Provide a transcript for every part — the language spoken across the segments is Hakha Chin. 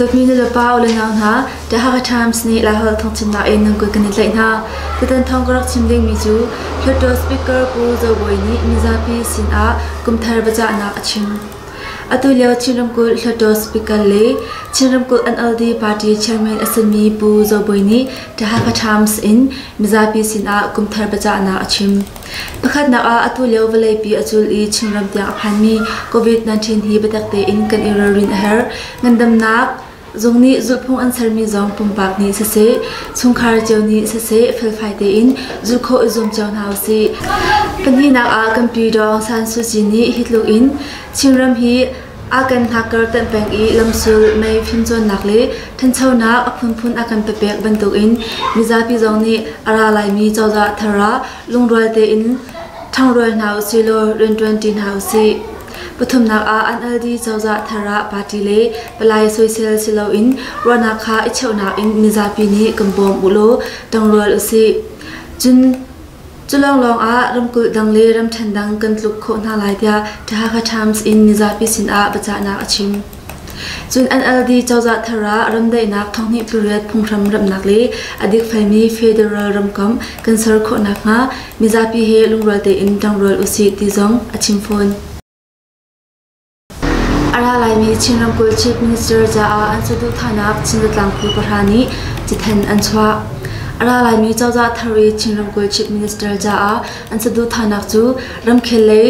Dawtmi nulepa u le nau hna, The Hakha Times nih Laihol thawngchimnak in nan kut kan i tlaih hna. Tutan thawng ka rak chim dingmi cu Hluttaw Speaker Pu Zo Bawi nih mizapi sinah kumthar biacahnak a chim. Atulio Chin ramkulh Hluttaw Speaker le Chin ramkulh NLD party chairman a simi Pu Zo Bawi nih Tahaka Times in mizapi sinah kumthar biacahnak a chim. Pakhatnak ah atulio vawleipi a cul i Chinram tiang a phanmi COVID-19 hi biatak tein kan i ralrin a herh. Ngandamnak, Zung nih zulhphung an sermi zong pumpak nih siseh, chungkhar cio nih siseh felfai tein zulh khawh i zuam cio hna usih. Pahnihnak ah kanpi Dawng San Suu Kyi nih hi tluk in Chinram hi a kan hnakkar tanh pek i lamsul, mei fimcawnnak le ṭhanchonak a phunphun a kan pepek bantukin mizapi zong nih a ra laimi cozah thar ah lungrual tein ṭhangrual hna usih law rianṭuanṭi hna usih. Pathumnak ah an aldi cozah thar ah party le palai soisel si loin ruahnak kha i cheuhnak in mizapi nih kan bawm u law tangrual usih. Cun cu lawnglawng ah ramkulh dang le ramṭhen dang kan tluk khawh hna lai tiah The Hakha Times in mizapi sinah biacahnak a chim. Cun NLD cozah thar ah remdaihnak thawnghnih tluriat phunghram remhnak le a dikfelmi federal ramkomh kan ser khawh nakhnga mizapi he lungrual tein ṭangrual usih ti zong a chim fawn. A ra laimi Chin ramkulh Chief Minister caah an saduhthahnak Chin Zatlangpu pahra nih cithen an chuah. A ra laimi cozah thar i Chin ramkulh Chief Minister caah an saduhthahnak cu ramkhel le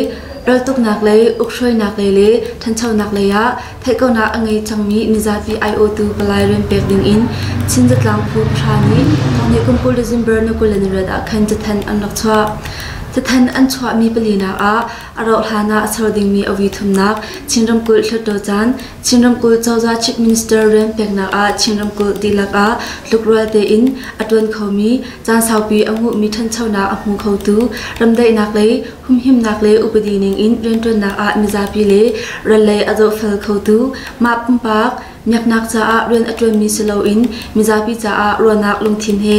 raltuknak lei, ukhruainak lei le ṭhanchonak lei ah theihkonak a ngei cangmi nizapi aiawhtu palai rian pek dingin Chin zatlang phu pahra nih thawngnih kum kul le December ni kul le nirat ah khan cathanh an rak chuah. Cathan an chuahmi palinak ah a rauhhlan ah a ser dingmi awi thumnak Chin ramkulh hluttaw caan Chin ramkulh cozah chief minister rian peknak ah Chin ramkulh dihlak ah tlukrual tein a ṭuan khomi caan saupi a nguhmi ṭhanchonak a hmu khotu ramdaihnak lei Humhimnak le upadi ningin rianṭuannak ah mizapi le ral lei a zohfel khotu mah pumpak miaknak caah rian a ṭuanmi si loin mizapi caah ruahnak lungthin he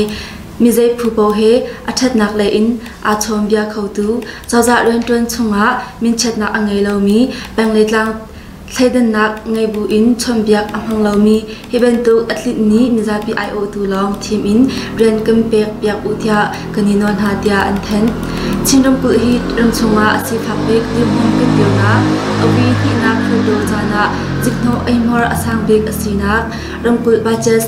mizei phu paoh he a ṭhatnak lei in aa chawmbia khotu cozah rianṭuan chungah minchiatnak a ngei lomi peng le tlang Thleidannak ngei buin chawnbiak a hmang lomi hi bantuk a tlinh nih mizapi aiawhtu lawng thim in rian kan pek piak u tiah kan i nawl hna tiah an thanh. Chin ramkulh hi ram chungah a sifak bik dirhmun kanpirnak Awi hnihnak phurtu caan ah ziknawh eihmuar a sang bik a sinak ramkulh budget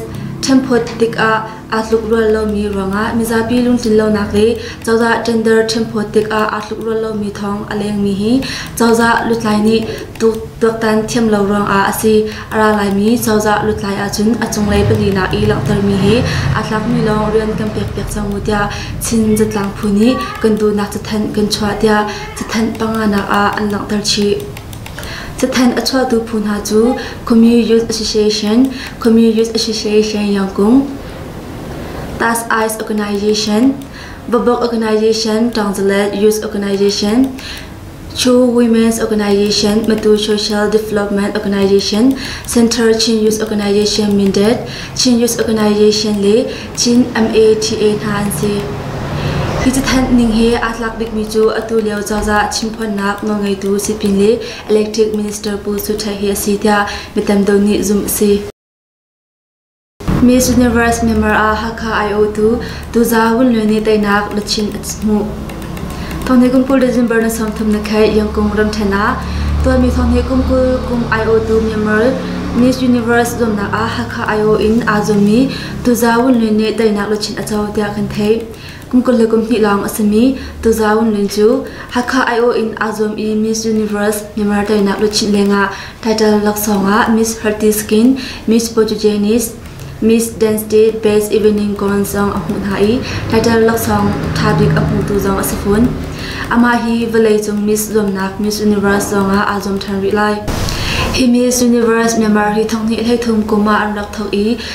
ṭhenphawt tikah Aa tlukrual lomi ruangah mizapi lungtlinlonak le cozah gender ṭhemphuat tikah aa tlukrual lomi thawng a lengmi hi cozah lutlai nih tuaktan thiam lo ruangah a si. A ra laimi cozah lutlai ahcun a cunglei palinak i langhtermi hi aa tlakmi lawng rian kan pekpiak cang u tiah Chin zatlang phu nih kan duhnak cathanh kan chuah tiah cathanh panganak ah an langhter chih. Cathanh a chuahtu phu hna cu Khawmyi Youth Association, Khawmyi Youth Association Yangkung, Task Ice Organization, Babok Organization, Tangzalet Youth Organization, Chu Women's Organization, Matu Social Development Organization, Center Chin Youth Organization Mindat, Chin Youth Organization le Chin MATA hna an si. Hi cathanh ning he aa tlak bikmi cu atu lio cozah chimphuannak nawlngeitu sipin le electric minister Pu Su Ṭhai hi a si tiah mi tamdeuh nih zumh a si. Miss Universe member ah Hakha aiawhtu Tuza Wun Lwe nih teinak luchin a hmuh. Thawngthai kum kul December na sawmthum na khai Yangkung ramṭhen ah tuanmi thawngthai kum kul kum aiawhtu member Miss Universe zumnak ah Hakha aiawh in aa zummi Tuza Wunlun nih teinak luchin a co tiah kan theih. Kum kul le kum hnih lawng a simi Tuza Wunlun cu Hakha aiawh in aa zuam i Miss Universe Myanmar teinak luchin lengah title laksawng ah Miss Hearty Skin, Miss Portuguese, Miss Dance Day Best Evening Gown zong a hmuh hna i title laksawng ṭha bik a hmutu zong a si fun. Amah hi vawleicung Miss zuamnak Miss Universe zong ah aa zuam ṭhan rih lai. Hi Miss Universe Myanmar hi thonghnih hleithum kum ah an rak thawk i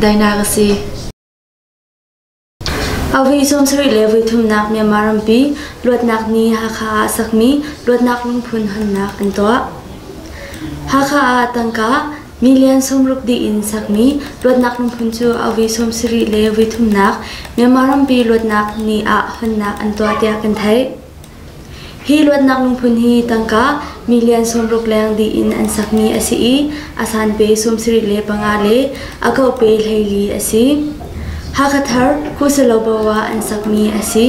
Daihnak a si. August sawm sarih le voi thumnak Myanmar rampi luatnak ni Hakha ah sakmi luatnak lungphun honnak an tuah. Hakha ah tangka million sawmruk dih in sakmi luatnak lungphun cu August sawm sarih le voi thumnak Myanmar rampi luatnak ni ah honnak an tuah tiah kan theih. Hi luatnak lungphun hi tangka million sawmruk leng dih in an sakmi a si i a sanpe sawmsarih le panga le a kope hleili a si. Hakha thar Kusalobo ah an sakmi a si.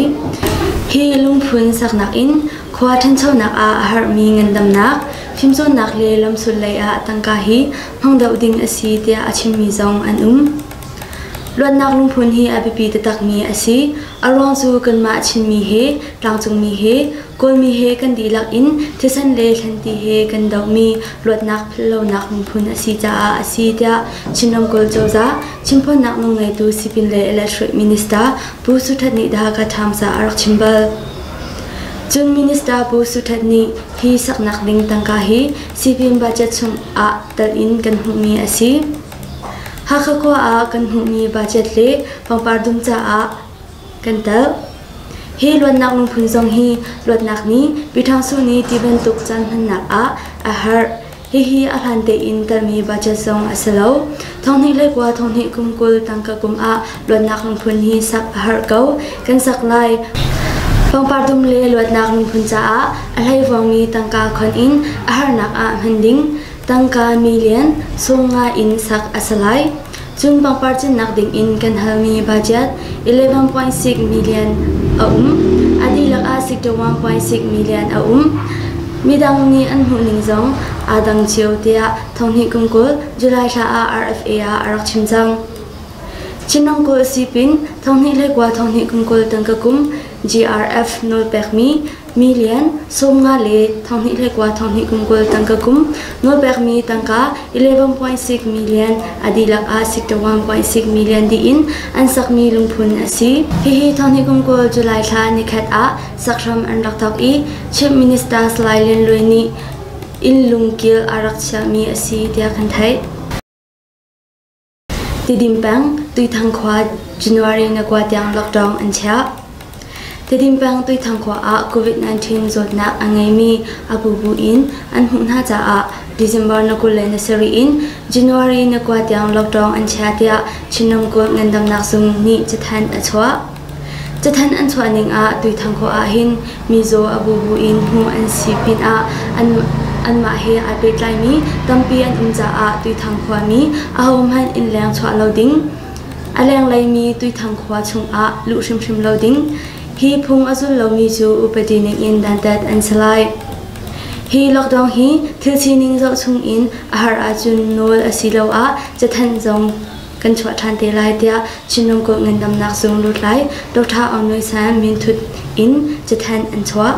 Hi lungphun saknak in khua ṭhanchonak ah a harhmi ngandamnak, fimcawnnak le lamsul lei ah tangka hi hmang doh ding a si tiah a chimmi zong an um. Luatnak lungphun hi a biapi taktakmi a si. A ruang cu kanmah Chinmi he, tlangcungmi he, Kawlmi he kan dihlak in thisen le thlanti he kan dohmi luatnak phallonak lungphun a si caah a si tiah Chin ramkulh cozah chimphuannak nung ngeitu sipin le electric minister Pu Su That nih The Hakha Times ah a rak chim bal. Cun Minister Pu Su That nih hi saknak ding tangka hi sipin budget chung ah telh in kan hmuhmi a si. Hakha khua ah kan hmuhmi budget le pangpar dum caah kan telh. Hi luatnak lungphun zong hi luatnak nih Pi Ṭhang Su nih ti bantuk caan hmannak ah a harh. Hihi a hlan tein telmi budget zong a si lo. Thonghnih le kua thonghnih kum kul tangka kum ah luatnak lungphun hi sak a harh ko. Kan sak lai. Pangpar dum le luatnak lungphun caah a hleivawngmi tangka khon in a harnak ah hman ding. Tangka million sawmnga in sak a si lai. Cun pangpar cinnak dingin kan halmi budget 11.6 million a um. A dihlak ah 61.6 million a um. Midang nih an hmuhning zong aa dang cio tiah Thonghnih Kumkul July thla ah RFA ah a rak chim cang. Chinang Kul Sipin Thonghnih le Kwa Thonghnih Kumkul Tangka Kum GRF nawlpekmi Mi lian, sawm nga le thanghnih hleikua thanghnih kum kul tangka kum, nawlpekmi tangka 11.6 million a dihlak ah 61.6 million diin an sakmi lungphun a si. Hihi thanghnih kum kul July thla nikhat ah sakhram an rak thok i Chief Minister Salai Lian Lui nih in lungkil a rak chiahmi a si tiah kan theih. Tidin peng Tuithang khua January ni kua tiang lockdown an chiah. Tidin peng Tuithang khua ah COVID-19 zawtnak a ngeimi a bubu in an hmuh hna caah December ni kul le ni sarih in January ni kua tiang lockdown an chiah tiah Chin ramkulh ngandamnak zung nih cathanh a chuah. Cathanh an chuah ning ah Tuithang khua ahhin mizaw a bubu in hmuh an si pinah anmah he aa pehtlaimi tampi an um caah Tuithang khuami ahohmanh inn leng chuah lo ding, a lengleimi Tuithang khua chungah luh hrimhrim lo ding, hi phung a zul lomi cu upadi ningin dantat an si lai. Hi lockdown hi thil sining zoh chungin a har ahcun nawl asiloah cathanh zong kan chuah ṭhan te lai tiah Chinram Kulh Ngandamnak Zung lutlai Dr. Aung Nui San minthut in cathanh an chuah.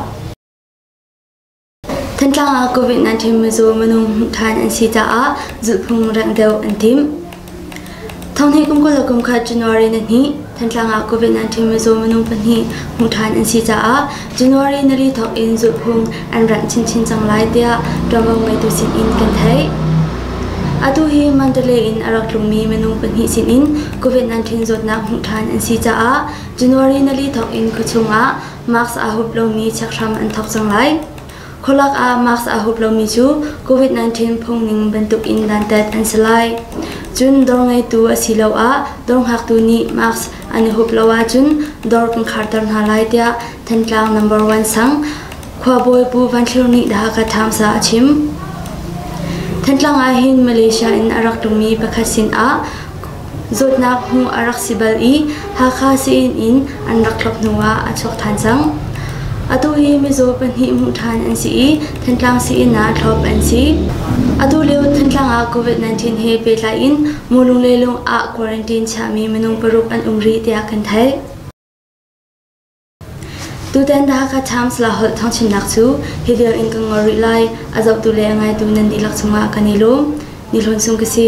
Thantlang ah COVID-19 mizaw minung hmuh ṭhan an si caah zulhphung rengh deuh an tim. Thonghne kumkhat le kumkhat January ni hnih Thantlang ah COVID-19 mizaw minung pahnih hmuh ṭhan an si caah January nali thawk in zulhphung an ranh chinchin cang lai tiah ṭuanvo ngeitu sinin kan theih. Atu hi Mandalay in a rak tlungmi minung pahnih sinin COVID-19 zawtnak hmuh ṭhan an si caah January nali thawk in khuachung ah mask aa hup lomi chekhram an thawk cang lai. Khualak ah mask aa hup lomi cu COVID-19 phungning bantukin dantat an si lai. Cun dawr ngeitu asiloah dawr ngaktu nih mask an i hup lo ahcun dawr kan kharter hna lai tiah Thantlang number one sang khuabawi Pu Van Thlir nih The Hakha Times ah a chim. Thantlang ah hin Malaysia in a rak tlungmi pakhat sinah Zawtnak hmu a rak si bal i Hakha Sein in an rak tlawp hnuah a chuak ṭhan cang. Atu hi mizaw pahnih hmuh ṭhan an si i Thantlang Sein ah thlawp an si. Atu lio Thantlang ah COVID-19 he pehtlai in mu lunglei lung ah quarantine chiahmi minung paruk an um rih tiah kan theih. Tutan Dhaka Times Lah holh thawngchimnak cu hi vial in ka ngol rih lai a zohtu le a ngaitu nan dihlak cungah kan i lawm. Ni Hlawn Sung ka si.